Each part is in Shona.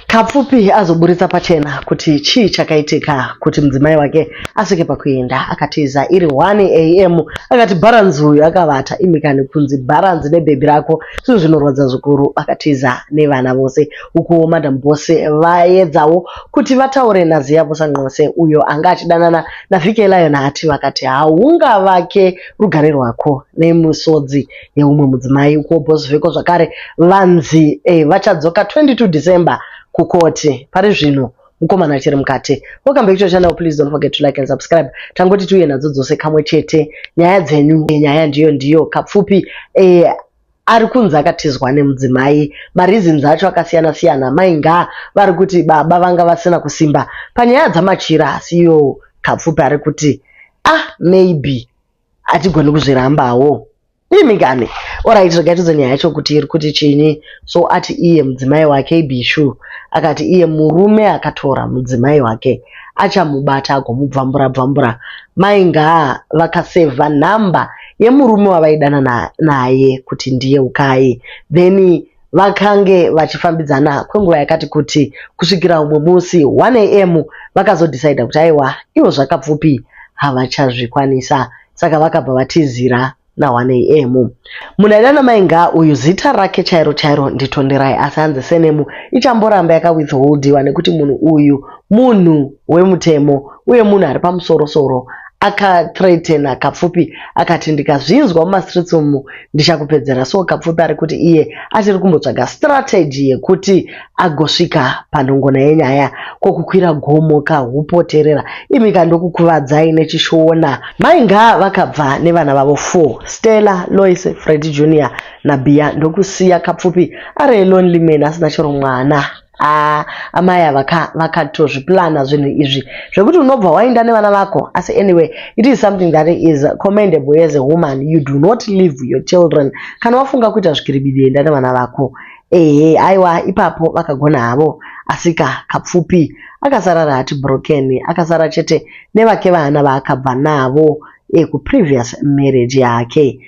Kapfupi azoburitsa pachena kuti chii chakaitika kuti mudzimai wake asvike pakuenda akatiza iri 1 am akati bharanzi uyu akavata imikani kunzi bharanzi nebhebhi rako zvinhu zvinorwadza zvikuru akatiza nevana vose ukuwo madam bose vaedzawo kuti vataure naziya busanqose uyo anga achidanana navhike lion ati vakati haungavake rugare rwako nemusodzi yeumwe mudzimai ukuwo Bosveko zvakare vanzi eh, vachadzoka 22 December kukoti pari zvino mukomana achiri mukati welcome back to your channel please don't forget to like and subscribe tangoti tiuye nadzo dzose kamwe chete nyaya dzenyu eh, nyaya ndiyo ndiyo kapfupi eh, ari kunzi akatizwa nemudzimai mareasons acho akasiyana siyana mainga vari kuti baba vanga vasina kusimba panyaya dzamachira asi iyo kapfupi ari kuti ah maybe hatigoni kuzvirambawo imi kani orit regai tiudze nyaya yacho kuti iri kuti chinyi so ati iye mudzimai wake ibishu akati iye murume akatora mudzimai wake achamubata agomubvambura bvambura mai ngaa vakasevha nhamba yemurume wavaidanana naye kuti ndiye ukai then Vakange vachifambidzana kwenguva yakati kuti kusvikira umwe musi 1am vakazodhisaidha kuti aiwa ivo zvakapfupi havachazvikwanisa saka vakabva vatizira na1am. Munhu aida namai Ngaa uyu zita rake chairo chairo ndiTonderai asi hanzi senemu ichamboramba yakawithholdiwa nekuti munhu uyu munhu wemutemo uye munhu ari pamusoro soro Aka threatener Kapfupi akati ndikazvinzwa muma streets umu ndichakupedzera so Kapfupi ari kuti iye achiri kumbotsvaga strategy yekuti agosvika panhongona yenyaya ko kukwira gomo ka hupoterera imika ndokukuvadzai nechishona. Mai Ngaa vakabva nevana vavo four, Stella, Loice, Freddy Junior naBiya ndokusiya Kapfupi ari a lonely man asina chero mwana. Haa amai ava ka vakatozviplana zvinhu izvi zvekuti unobva wainda nevana vako asi anyway it is something that is commendable as a woman you do not leave your children kana wafunga kuita zvikiribidi enda nevana vako ehe aiwa ipapo vakagona havo asika kapfupi akasara rati broken akasara chete nevake vana vaakabva navo ekuprevious marriage yake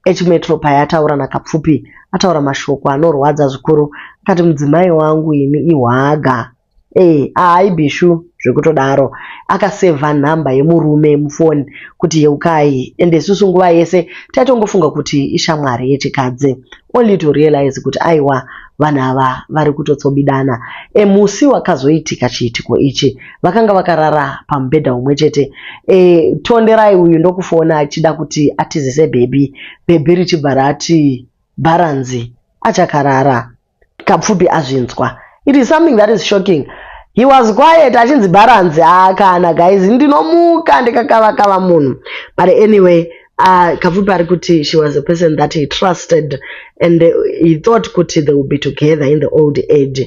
H-Metro payataura naKapfupi ataura mashoko anorwadza zvikuru akati mudzimai wangu ini ihwaga ee eh, ahai bishu zvekutodaro akasevha nhamba yemurume mufoni kuti yeukai ende isusu nguva yese taitongofunga kuti ishamwari yechikadzi only to realize kuti aiwa vanhu ava vari kutotsobidana emusi wakazoitika chiitiko ichi vakanga vakarara pamubhedha umwe chete e, tonderai uyu ndokufona achida kuti atizise bhebhi bhebhi richibva rati bharanzi achakarara kapfupi azvinzwa it is something that is shocking he was quiet achinzi bharanzi haakana ah, guys ndinomuka ndikakavakava munhu but anyway uh, Kapfupi ari kuti she was a person that he trusted and uh, he thought kuti they would be together in the old age.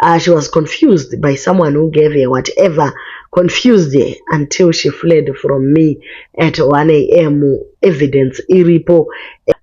Uh, she was confused by someone who gave her whatever, confused her until she fled from me at 1 a.m. Evidence iripo.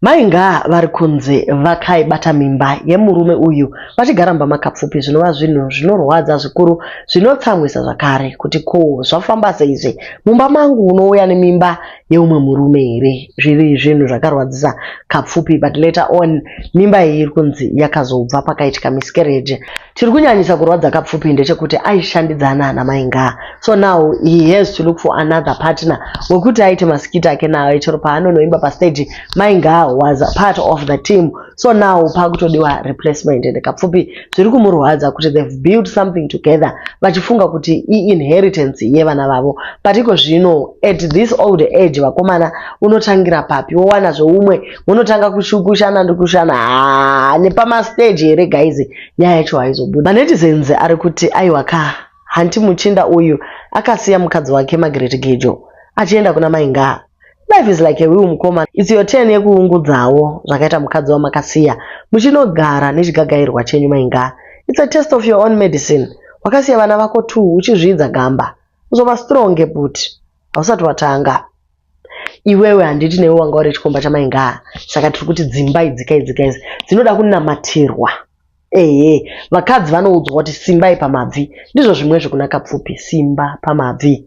Mainga vari kunzi vakaibata mimba yemurume uyu vachigara mba makapfupi zvinova zvinhu zvinorwadza zvikuru zvinotsamwisa zvakare kuti ko zvafamba seizvi mumba mangu unouya nemimba yeumwe murume here zviri zvinhu zvakarwadzisa kapfupi but later on mimba iyi iri kunzi yakazobva pakaitika miscarriage chiri kunyanyisa kurwadza kapfupi ndechekuti aishandidzana ana mai ngaa so now he has to look for another partner wekuti aite masikiti ake nayo chero paanonoimba pastage mai ngaa was part of the team so now pakutodiwa replacement and kapfupi zviri kumurwadza kuti they've built something together vachifunga kuti iinheritance yevana vavo but iko zvino at this old age vakomana unotangira papi wowana zveumwe unotanga kushukushana ndikushana haa nepamasteji here gaizi nyaya yacho haizobuda manetizens ari kuti aiwa ka hanti muchinda uyu akasiya mukadzi wake magreti gejo achienda kuna maingaa Life is like a will mukoma. It's your turn yekuungudzawo zvakaita mukadzi wamakasiya muchinogara nechigagairwa chenyu mainga. It's a test of your own medicine. Wakasiya vana vako two uchizviidza gamba. Uzova strong but hausati watanga. Iwewe handiti newe wanga uri chikomba chamainga saka tiri kuti dzimba idzi kai dzika idzi dzinoda kunamatirwa. Ehe, vakadzi vanoudzwa kuti simbai pamabvi. Ndizvo zvimwezve kuna Kapfupi, simba pamabvi.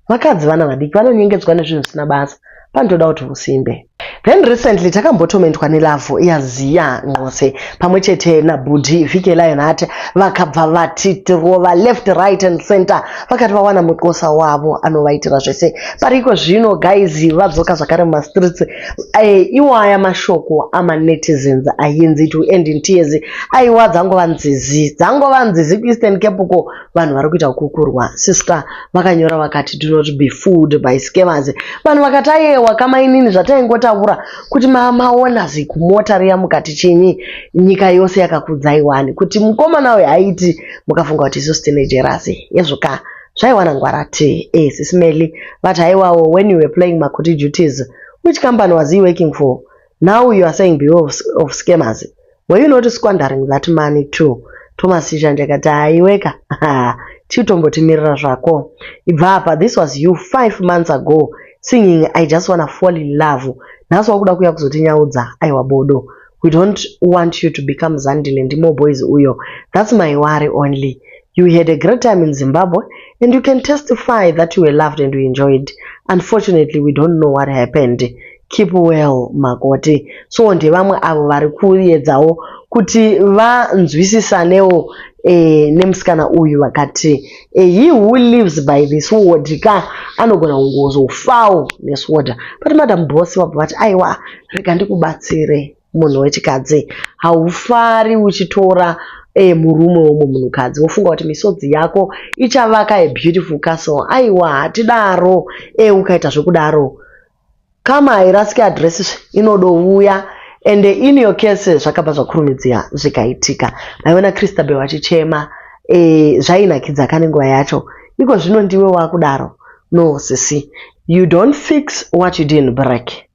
Vakadzi vana vadiki vanonyengedzwa nezvinhu zvisina basa, panotoda kuti usimbe. Then recently takambotomentwa nelove yaZiya Nqose pamwe chete nabhudhi Vike Lion Heart vakabva vatitirova left right and center vakati vawana muqosa wavo anovaitira zvese but iko zvino guys vadzoka zvakare mumastreets Eh, iwaya mashoko amanetizens ayenzi it will end in tears aiwa dzangova nzizi dzangova nzizi kueastern cape uko vanhu vari kuita kukurwa siska vakanyora vakati do not be fooled by scamers vanhu vakati ayewa kamainini zvataingotaura kuti maona zikumota riya mukati chinyi nyika yose yakakudzaiwani kuti mukomana uyo aiti mukafunga kuti isu sitinejerasi yezvokaa zvaiwana ngwara ti eh sisi Melly but haiwawo when you were playing makuti duties which company was he working for now you are saying beware of, of scammers were you not squandering that money too Thomas Chishanje akati haiweka chiutombotimirira zvako ibva apa this was you five months ago singing i just wanna fall in love nhasi wakuda kuya kuzotinyaudza aiwa bodo we don't want you to become zandile ndimo boys uyo that's my worry only you had a great time in zimbabwe and you can testify that you were loved and you enjoyed unfortunately we don't know what happened keep well makoti so ndevamwe avo vari kuedzawo kuti vanzwisisanewo eh, nemusikana uyu vakati eh, he who lives by this word ka anogona kungozofawo nesword but madam boss vabva vati aiwa rega ndikubatsire munhu wechikadzi haufari uchitora eh, murume womwe munhukadzi wofunga kuti misodzi yako ichavaka a beautiful castle aiwa hatidaro e eh, ukaita zvekudaro kama hairasiki adress inodouya and in your case zvakabva zvakurumidzira zvikaitika maiona christabel vachichema e, eh, zvainakidza kane nguva yacho iko zvino ndiwe wakudaro no sisi you don't fix what you didn't break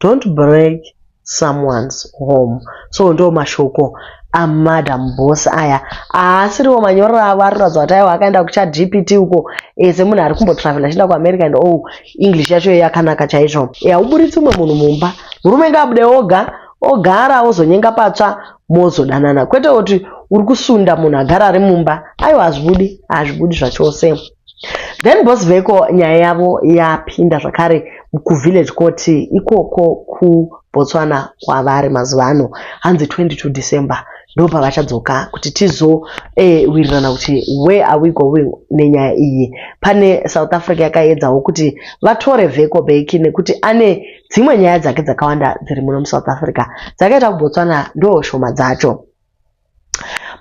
Don't break someone's home. So ndo mashoko amadam boss aya haasiriwo manyorero avo ari kuratidza kuti aiwa akaenda kuchadpt uko ese eh, munhu ari kumbotravela achienda kuamerica and oh english yacho iyo yakanaka chaizvo hauburitsi eh, umwe munhu mumba murume ngaabude oga ogara ozonyenga patsva mozodanana kwete kuti uri kusunda munhu agara ari mumba aiwa hazvibudi hazvibudi zvachose Then boss veko nyaya yavo yapinda zvakare kuvillage court ikoko kuBotswana kwavari mazuva ano hanzi 22 December ndopavachadzoka kuti tizowirirana eh, kuti where are we going nenyaya iyi. Pane South Africa yakaedzawo kuti vatore veko beki nekuti ane dzimwe nyaya dzake dzakawanda dziri muno muSouth Africa dzakaita kuBotswana ndoo shoma dzacho.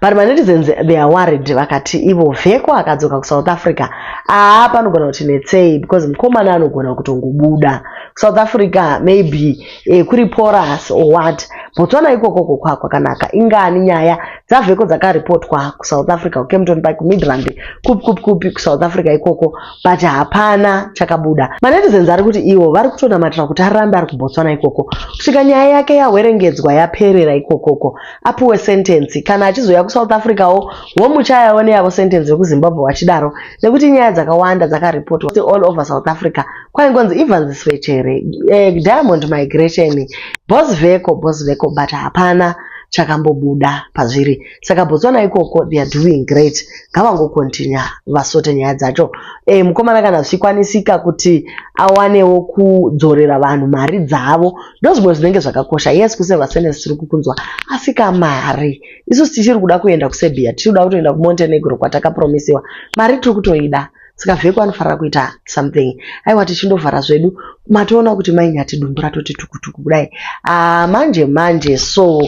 but manetizens they are worried vakati ivo vheko akadzoka kusouth africa aa panogona kuti netsei because mukomana anogona kutongobuda kusouth africa maybe eh, kuri porus or what botswana ikokoko kwakwakanaka ingani nyaya dzavheko dzakaripotwa kusouth africa kukemton park midrand kupi kupi kupi kusouth africa ikoko but hapana chakabuda manetizens ari kuti ivo vari kutonamatira kuti arambe ari kubotswana ikoko kusvika nyaya yake yahwerengedzwa yaperera ikokoko apuwe sentensi kana achizouya kusouth africa wo womuchayawo neyavo sentensi vekuzimbabwe wachidaro nekuti nyaya dzakawanda dzakaripotwa all over south africa kwaingonzi evans svechere eh, diamond migration bos veko bos veko but hapana chakambobuda pazviri saka botswana ikoko they are doing great ngavangokontinya vasote nyaya dzacho e, mukomana kana zvichikwanisika kuti awanewo kudzorera vanhu mari dzavo ndozvimwe zvinenge zvakakosha yes kuseva sene tiri kukunzwa asi kamari isu tichiri kuda kuenda kuserbia tiri kuda kutoenda kumontenegro kwatakapromisiwa mari tiri kutoida saka vheko anofanira kuita something aiwa tichindovhara zvedu matoona kuti mainyati dumbu ratoti tukutuku kudai ah, manje manje so